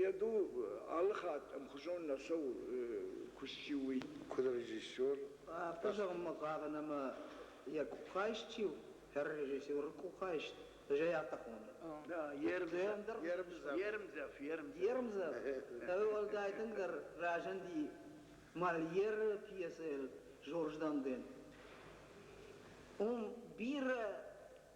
Йӕ дуг алы хатт ӕмхуызон нӕ цӕуы куыст чи уый. Куыд режиссер? Афтӕ зӕгъынмӕ хъавын ӕмӕ йӕ къухайст чи у, хӕр режиссеры къухайст зӕй афтӕ хоны. Ермдзӕф. Ермдзӕф. Уӕлдай тынгдӕр разынди Мольеры пьесӕйыл Жорж Данден. Уым бирӕ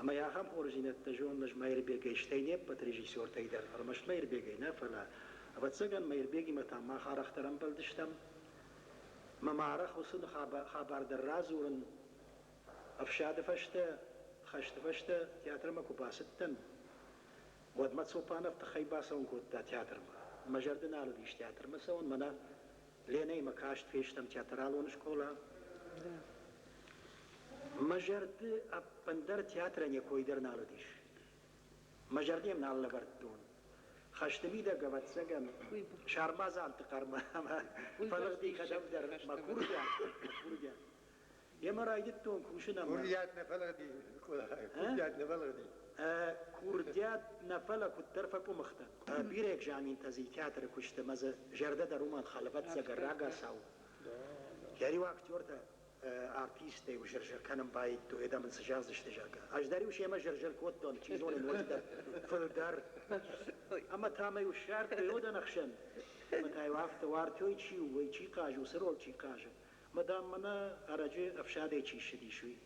Ӕмӕ йӕ ахӕм хорздзинӕдтӕ зонын ӕз Мӕирбегӕй, стӕй не ппӕт режиссертӕй дӕр, ӕрмӕст Мӕирбегӕй нӕ, фӕлӕ, ӕвӕццӕгӕн, Мӕирбегимӕ та мах арӕхдӕр ӕмбӕлдыстӕм. Мӕ ма арӕх уыцы хабар дӕр радзурын, ӕфсады фӕстӕ, хӕсты фӕстӕ театрмӕ куы бацыдтӕн, уӕд мӕ Цопанов тыххӕй бацӕуын кодта театрмӕ. Мӕ зӕрды нал уыдис театрмӕ цӕуын, мӕнӕ Ленӕимӕ каст фестӕм театралон скъола. Мӕ зӕрды ӕппындӕр театрӕн йӕ кой дӕр нал уыдис. Мӕ зӕрды йӕм нал лӕвӕрдтон. Хӕсты мидӕг, ӕвӕццӕгӕн, сармадзанты хъӕр ӕмӕ фӕлыгъди кӕдӕмдӕр мӕ курдиат, мӕ курдиат. Йемӕ райдыдтон кусын ӕмӕ... Курдиат нӕ фӕлыгъди, курдиат нӕ фӕлыгъди. Курдиат нӕ фӕлӕ куыддӕр фӕкъуымых дӕн. Бирӕ экзаментӕ дзы театры куысты мӕ дзы зӕрдӕ дӕр уымӕн халы, ӕвӕццӕгӕн, рагацау. Гӕриу актертӕ артисттӕй зыр-зыр кӕнын баидтой, адӕм ын цы зӕгъдзысты, зӕгъгӕ. Ӕз дӕр-иу семӕ зыр-зыр кодтон, чи зоны, ноджыдӕр фылдӕр. Ӕмӕ та мӕ-иу ссардтой Одӕн ӕхсӕн. Ӕмӕ та-иу афтӕ, Уартёй чи у, ой чи хъазы, уыцы роль чи хъазы. Мадам, мӕнӕ ӕрӕджы ӕфсадӕй чи ссыдис, уый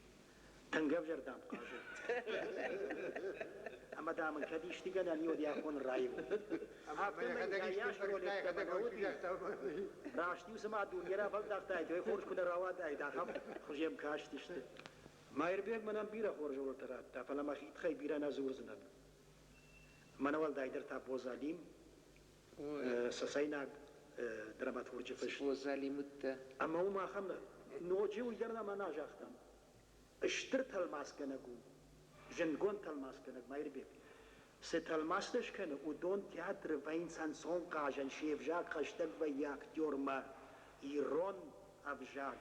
тынг ӕвзӕр дӕм хъазы. Ӕмӕ, дам, ын кӕд исты гӕнӕн и, уӕд йӕ афон раивон. Раст-иу цыма дуне рафӕлдӕхтаид, уӕй хорз куы нӕ рауадаид, ахӕм хуызӕм кастысты. Маирбег мӕнӕн бирӕ хорз рольтӕ радта, фӕлӕ мӕ хид хӕй бирӕ нӕ дзурдзынӕн. Мӕнӕ уӕлдайдӕр та Бозалим, Цӕцӕйнаг драматурджы фыст. О, залимуттӕ. Ӕмӕ уым ахӕм ноджы уыййӕрдӕм ӕмӕ загътам, стыр тӕлмацгӕнӕг у, зындгонд тӕлмацгӕнӕг Маирбек. Цы тӕлмацтӕ скӕны, уыдон театры вӕййынц ӕнцон хъазӕн, се взаг хӕстӕг вӕййы актёрмӕ, ирон ӕвзаг,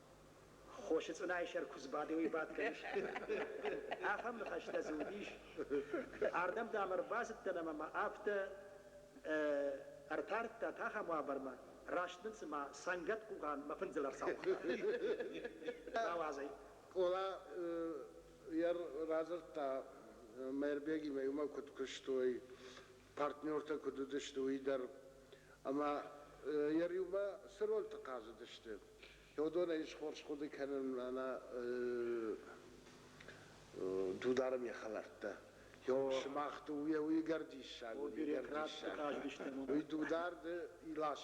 Хосы цъынайы сӕр куыдз бадынӕй бадгӕ ис. Ахӕм ныхӕстӕ дзы уыдис. Ардӕм дам ӕрбацыдтӕн ӕмӕ мӕ афтӕ ӕртардта тӕхӕм уавӕрмӕ, раст мын цыма цӕнгӕт-къугъан мӕ фындзыл ӕрцауыгъта. Ауадзӕй. Къола йӕ радзырдта, Мӕирбегимӕ иумӕ куыд куыстой, партнертӕ куыд уыдысты, уый дӕр ӕмӕ йӕ риумӕ цы рольты хъазыдысты, уыдонӕй ис хорз хъуыды кӕнынмӕ нӕ Дударым йӕ хӕлӕрттӕ. Сымах дыууӕ уыйгӕр диссаг уыди. Уый Дударды Илас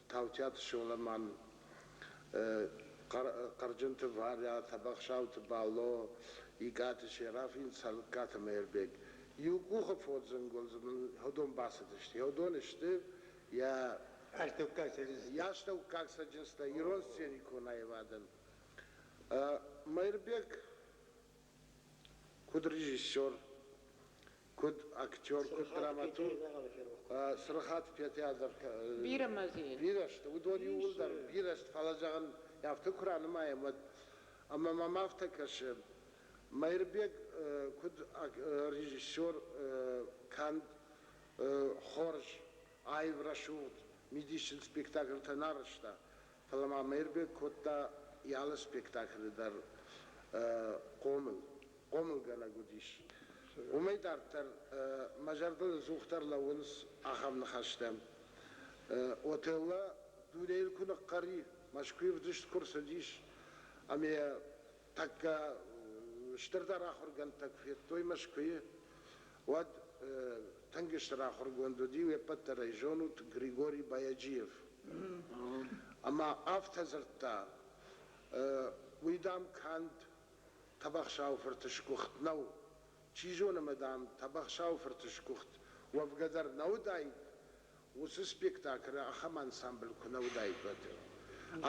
Таутиаты Соломан, Хъӕрджынты Варя, Тӕбӕхсӕуты Бало, Икъаты Серафин, Цӕлыккаты Мӕирбег. Иу къухы фодзын гуыл дзы мын уыдон бацыдысты. Уыдон сты йӕ. Ӕртыккаг сценӕ, йӕ астӕуккаг цӕджындзтӕ ирон сценикон аивадӕн. Мӕирбег куыд режиссер, Куыд актер, куыд драматург, Цырыхаты Петя дӕр бирӕ мӕзийы бирӕ сты, уыдон иууылдӕр бирӕ сты, фӕлӕ зӕгъын, афтӕ куы ранымайӕм, уӕд ӕмӕ мӕм афтӕ кӕсы, Мӕирбег куыд режиссер, канд хорз аив рӕсугъд мидисын спектакльтӕ нӕ рызта, фӕлӕ ма Мӕирбег кодта алы спектаклы дӕр хъомыл. Хъомылгӕнӕг уыдис. Уымӕй дарддӕр мӕ зӕрдыл ӕдзухдӕр лӕууынц ахӕм ныхӕстӕ, Отелло дунейыл куы ныхъхъӕр и, Мӕскуыйы вдыст куы рцыдис ӕмӕ йӕ тӕккӕ стырдӕр ахуыргӕндтӕ куы федтой Мӕскуыйы, уӕд тынг стыр ахуыргонд уыди, уе ппӕт дӕр ӕй зонут, Григорий Баяджиев. Ӕмӕ афтӕ дзырдта, уый, дам, канд Тӕбӕхсӕу-фырты сгуыхт нӕу. Чи зоны ӕмӕ, дам, Тӕбӕхсӕу-фырты сгуыхт уӕвгӕ дӕр нӕ уыдаид, Уыцы спектаклы ахӕм ансамбль куы нӕ уыдаид, уӕд,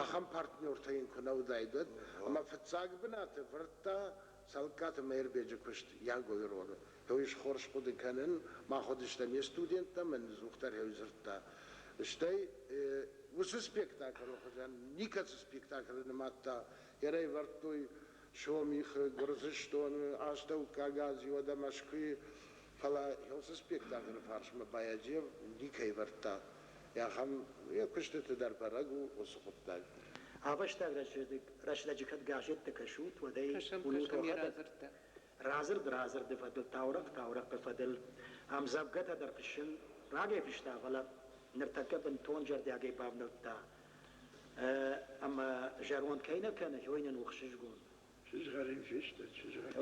ахӕм партнертӕ йын куы нӕ уыдаид, уӕд ӕмӕ фыццаг бынаты вӕрдта Цӕлыккаты Мӕирбеджы куыст Ягойы ролы. Ой, схорз хъуыды кӕнын, мах уыдыстӕм не студенттӕ, мӕн ныдздзухдӕрӕй дзырдта. Стӕй уыцы спектаклы хуызӕн никӕцы спектаклы нымадта. Йӕ райвӕрдтой Сомихы, Гуырдзыстоны, Астӕуккаг Ази, уӕдӕ Мӕскуыйы. Фӕлӕ уыцы спектаклы фарсмӕ Баяджиев никӕй ӕвӕрдта. Ахӕм йӕ куыстыты дӕр бӕрӕг у уыцы хъуыддаг. Ӕвӕстаг рӕстӕджы кӕд газеттӕ кӕсут, уӕд ӕй уынут уӕхӕдӕг. Радзырд радзырды фӕдыл, таурӕгъ таурӕгъы фӕдыл ӕмдзӕвгӕтӕ дӕр фыссын райфыста, фӕлӕ ныртӕккӕ бынтон зӕрдиагӕй бавнӕлдта. Ӕмӕ зӕронд кӕй нӕ кӕны, уый нын у хсызгон. Чызгӕр йын фесты, чызгӕр.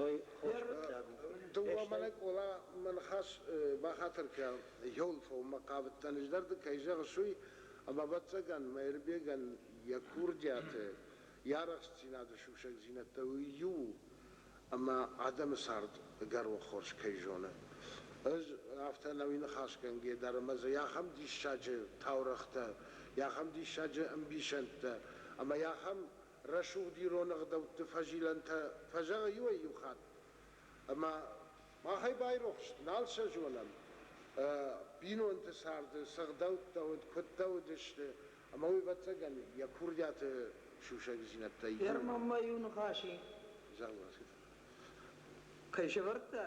Дыууӕ мӕнӕ Къола мӕ ныхас бахатыр кӕн, Ёльфовмӕ хъавыдтӕн, ӕз дӕр ды кӕй зӕгъыс, уый, ӕмӕ, ӕвӕццӕгӕн, Мӕирбегӕн йӕ курдиаты, йӕ арӕхстдзинады сусӕгдзинӕдтӕ уый иу у, ӕмӕ адӕмы цард ӕгӕрон хорз кӕй зоны. Ӕз афтӕ нӕуи ныхасгӕнгӕ дӕр ӕмӕ дзы ахӕм диссаджы таурӕгътӕ, ахӕм диссаджы ӕмбисӕндтӕ ӕмӕ ахӕм рӕсугъд ирон ӕгъдӕутты фӕзилӕнтӕ фӕзӕгъы иуӕй-иу хатт. Ӕмӕ махӕй байрохс нал сӕ зонӕм. Бинонты царды цы гъдӕуттӕ уыд, куыдтӕ уыдысты, ӕмӕ уый ӕвӕццӕгӕн йӕ курдиаты сусӕгдзинӕдтӕй иу. Ӕрмӕм-ма иу ныхас и. Зӕгъ, Васька. Кӕй сӕвӕрдта?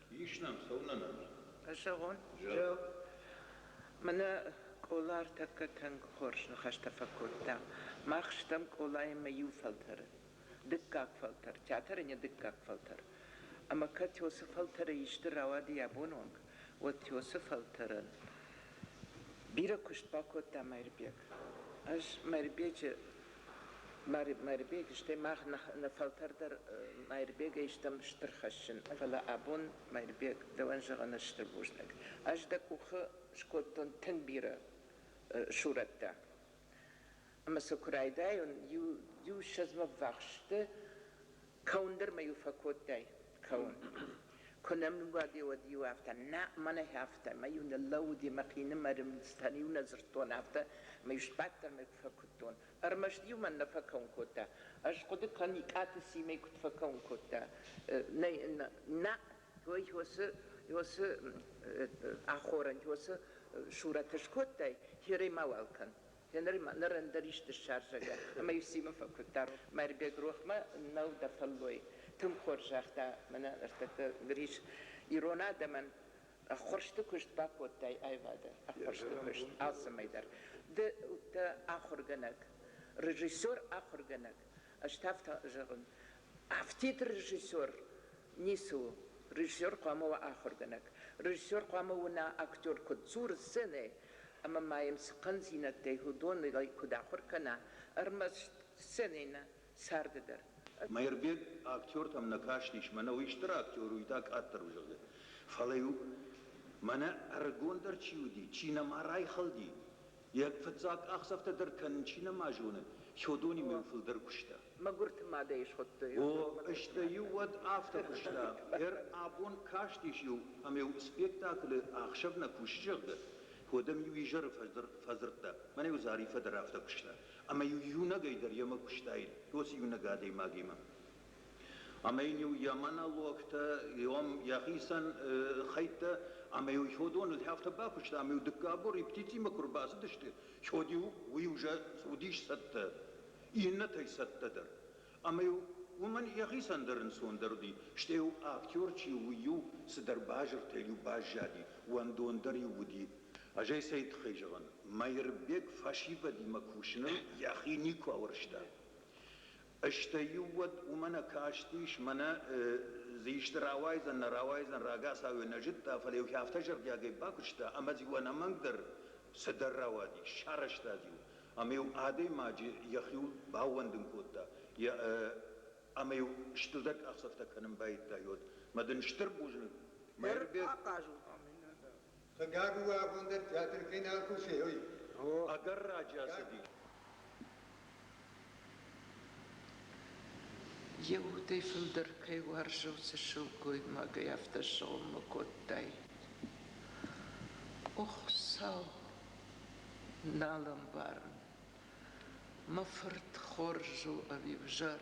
Ис нӕм, цӕуынӕ нӕм? Зӕгъон? Зӕгъ. Мӕнӕ Къола ӕртӕккӕ тӕнг хорз ныхӕстӕ фӕкодта. Мах стӕм Къолаимӕ иу фӕлтӕры. Дыккаг фӕлтӕр, театрӕн-йӕ дыккаг фӕлтӕр. Ӕмӕ кӕд Тёсы фӕлтӕрӕй исты рауади абон онг, уӕд Тёсы фӕлтӕрӕн бирӕ куыст бакодта Мӕирбег. Ӕз Мӕирбеджы Майырбег, стӕй мах нӕ фӕлтӕр дӕр Майырбегӕй стӕм стыр хӕссын, фӕлӕ абон, Майырбег, дӕуӕн зӕгъын ӕз стыр бузныг. Ӕз дӕ къухы скодтон тынг бирӕ сурӕттӕ. Ӕмӕ сӕ куы райдайон, иу-ссӕдзмӕ ввахс сты, кӕуын дӕр мӕ иу фӕкодтай. Кӕуын. Куы нӕм нымбади, уӕд-иу афтӕ, Нӕ, мӕнӕй афтӕ, мӕ-иу ныллӕууыди мӕхинымӕры мыдзтӕн-иу нӕ дзырдтон, афтӕ мӕ-иу сбадтӕн мӕ куы фӕкуыдтон. Ӕрмӕст-иу мӕн нӕ фӕкӕуын кодта. Ӕз хъуыды кӕн, Икъаты Симӕ куыд фӕкӕуын кодта. Нӕ, той йосы, йосы ахорӕн, йосы сурӕт ӕскодтай, херӕй мауал кӕн. Ныр ныр ӕндӕр исты ссарзӕг ӕмӕ-иу Симы фӕкуыдта Мӕрбег рохмӕ. Нӕу дӕ фӕллой, тынг хорз загъта. Мӕнӕ ныртӕккӕ ныр ис ирон адӕмӕн ӕххуырсты куыст. Бакодтай аивады ӕххуырсты куыст алцӕмӕй дӕр. Ды дӕ ахуыргӕнӕг, режиссер, ахуыргӕнӕг Ӕз та афтӕ зӕгъын, афтид режиссер ницы у. Режиссер хъуамӕ уа ахуыргӕнӕг. Режиссер хъуамӕ уына актер куыд дзуры сценӕйы ӕмӕ ма йӕм цы хъӕндзинӕдтӕй уыдонӕй куыд ахуыр кӕна, ӕрмӕст сценӕйы нӕ царды дӕр. Мӕирбег актертӕм нӕ кастис, мӕнӕ уый стыр актер у, та къаддӕр у, зӕгъгӕ. Фӕлӕ-иу, мӕнӕ ӕрыгондӕр чи уыди, чи нӕма райхӕлди, Йӕ фыццаг къахдзӕфтӕ дӕр кӕнын чи нӕма зоны, Сёдонимӕ йын фылдӕр куыста. Мӕгуырты мадӕй схуыдтой. О, стӕй-иу уӕд афтӕ куыста, ӕр абон кастис-иу ӕм-иу спектаклы ӕхсӕв нӕ кусы, зӕгъгӕ. Уӕд ӕм-иу изӕры фӕдзырдта, мӕн-иу Зариффӕ дӕр афтӕ куыста, ӕмӕ-иу иунӕгӕй дӕр йемӕ куыстаид, уыцы иунӕг адӕймагимӕ. ӕма ин йӕ монологтӕ, йӕхицӕн хӕйттӕ ӕмӕ иу ходоныл афтӕ бакуыста, ӕмӕ иу дыккаг бон репетицимӕ куы ӕрбацыдысты, ходиу уый уже уыдис цӕттӕ, иннӕтӕй цӕттӕ дӕр. Ӕмӕ-иу уымӕн йӕхицӕн дӕр ӕнцондӕр уыди, стӕй-иу актер чи у, уый-иу цыдӕр базыртӕй-иу баззади, уӕндон дӕр-иу уыди. Ӕз ӕй цӕй тыххӕй зӕгъын, Мӕирбег фӕсивӕдимӕ кусыныл йӕхи никуы ауӕрста. Стӕй-иу уӕд уымӕ нӕ кастис, мӕнӕ дзы исты рауайдзӕн, нӕ рауайдзӕн, рагацау йӕ нӕ зыдта, фӕлӕ-иу хи афтӕ зӕрдиагӕй бакуыста, ӕмӕ-иу ӕнӕмӕнг дӕр цыдӕр рауадис, сарӕзтад-иу ӕмӕ-иу адӕймаджы йӕхиуыл баууӕндын кодта ӕмӕ-иу студент къахдзӕфтӕ кӕнын байдайы уӕд. Мӕ дын стыр бузныг, Мӕирбег. Ахъаз у ӕмӕ нӕ дӕр. Хъыгаг у абон дӕр театр кӕй нал кусӕй, ой. О, ӕгӕр раджы ацыди. Йе удӕй фылдӕр кӕй уарзы уыцы сылгоймагӕй, афтӕ сыгъуыммӕ кодтай. О, Хуыцау, нал ӕмбарын. Мӕ фырт хорз у ӕви ӕвзӕр?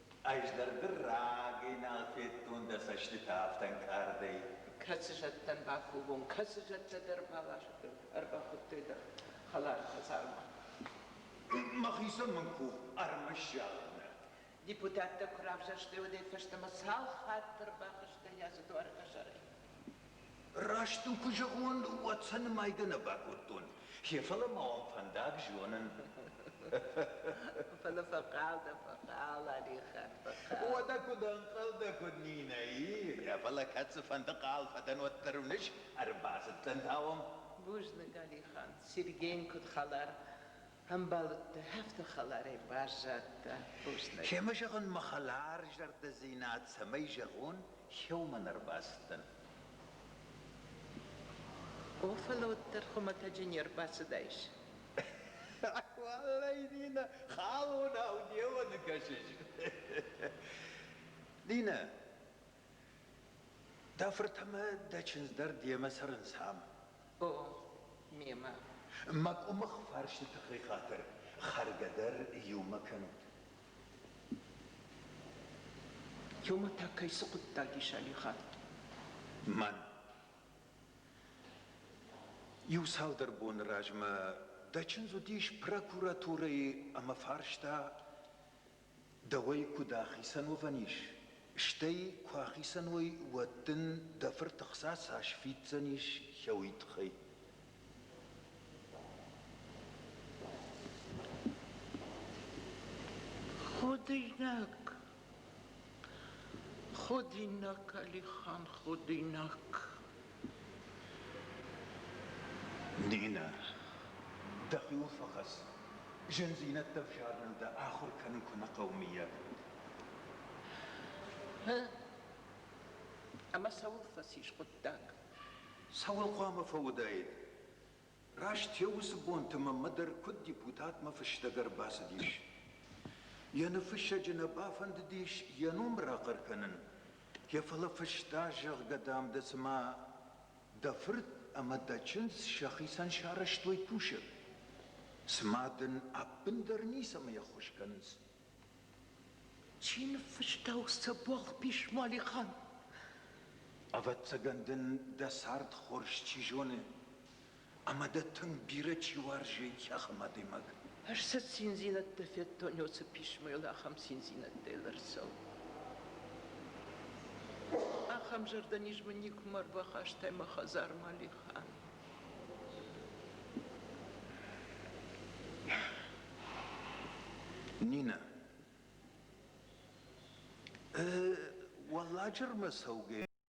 Ӕз дӕр дыр рагӕй нал федтон дӕ цӕстытӕ афтӕ ӕнкъардӕй. Кӕцы зӕдтӕн бафлугон, кӕцы зӕдтӕ дӕр ӕрбахуыдтой дӕ хӕлар хӕдзармӕ? Мӕхицӕн мын къух ӕрмӕст загъын нӕ. Депутаттӕ куы равзӕрстой, уӕдӕй фӕстӕмӕ цал хатт ӕрбахызтӕ йӕ дзы дуары хӕдзарӕй? Раст дын куы зӕгъон, уӕд сӕ нымайгӕ нӕ бакодтон. Гъе, фӕлӕ ма уӕм фӕндаг зонын. Фӕлӕ фӕхъал дӕ, фӕхъал, Алихан, фӕхъал. Уӕдӕ куыд ӕнхъӕлдӕ куыд Нинӕйы? Фӕлӕ кӕд цыфӕнды хъал фӕдӕн уӕддӕр уыныс? Ӕрбацыдтӕн та уӕм. Бузныг, Алихан. Сергейӕн куыд хӕлар, Ӕмбӕлтты афтӕ хӕларӕй баззадтӕ бузныг. Кӕмӕ зӕгъын мӕ хӕларзӕрдӕдзинад, цӕмӕй зӕгъон, кӕуылмӕ нӕ рбацыдтӕн? О, фӕлӕ уӕддӕр хуымӕтӕджы не рбацыдаис. Уаллӕй, Нина, халонау деуӕны кӕсыс. Нина, Дӕ фырт ӕмӕ дӕ чындз дӕр демӕ цӕрынц ам. О, мемӕ. Мӕ къуымых фӕрсты тыххӕй хатыр хӕргӕ дӕр иумӕ кӕнут. Иумӕ та кӕй цы хъуыддаг ис Алихат? Мӕн. Иу цалдӕр боны размӕ дӕ чындз уыдис прокуратурӕйы ӕмӕ фарста, Дӕуӕй куыд ахицӕн уӕвӕн ис? Стӕй куы ахицӕн уой, уӕд дын дӕ фырты хца цас фиддзӕнис хӕуый тыххӕй? Ходинаг, Ходинаг, Алихан, Ходинаг. Нинӕ, дӕхиуыл фӕхӕц. Зындзинӕдтӕ взарыныл дӕ ахуыр кӕнын куы нӕ хъӕуы, мыййаг? Гъы? Ӕмӕ цӕуыл фӕцис хъуыддаг? Цӕуыл хъуамӕ фӕуыдаид? Раст йӕ уыцы бонты мӕнмӕ дӕр куыд депутатмӕ фыстӕг ӕрбацыдис. Йӕ ныффыссӕджы нӕ бафӕндыдис йӕ ном рахъӕр кӕнын, йӕ фӕлӕ фыста, зӕгъгӕ, дам, дӕ цыма дӕ фырт ӕмӕ дӕ чындз сӕхицӕн сарӕзтой кусӕг. Цыма дын ӕппындӕр ницӕмӕй ӕххуыс кӕнынц, Чи ныффыста уыцы богъ-пис, Малихан? Ӕвӕццӕгӕн дын дӕ цард хорз чи зоны, ӕмӕ дӕ тынг бирӕ чи уарзы, йӕхм адӕймаг. Ӕз сӕ циндзинӕдтӕ федтон, уыцы писмойыл ахӕм циндзинӕдтӕй лӕрцӕуы. Ахӕм зӕрдӕниз мын никуыма ӕрбахастай, мӕ хӕдзар, Малихан. Нинӕ, уӕлладжырмӕ цӕугӕ